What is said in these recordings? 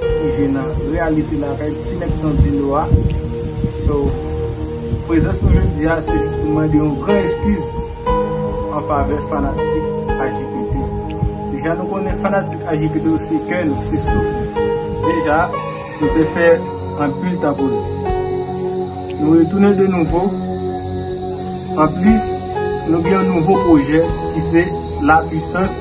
Ou jwe nan reyalite lakay ti mèt Nandino a. So, prezans nou jodi a se jis pou mande yon gran eskiz an favè fanatik AJPP. Deja nou konnen fanatik AJPP yo se kè nou, se souf nou. Deja, nou te fè anpil tapoze. Nou retounen de nouvo. Anplis, nou gen yon nouvo pwojè ki se La Puissance.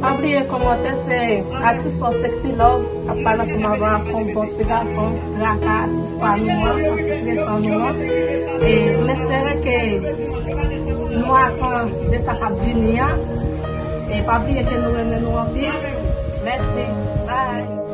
Pa bliye komante se atis paw sexy love kap pale ansanm avèw ak yon bon ti gason traka atis pa nou an atis resan nou an e m espere ke nou atan de sa kap vini an e pa bliye ke nou renmen nou anpil mèsi bye.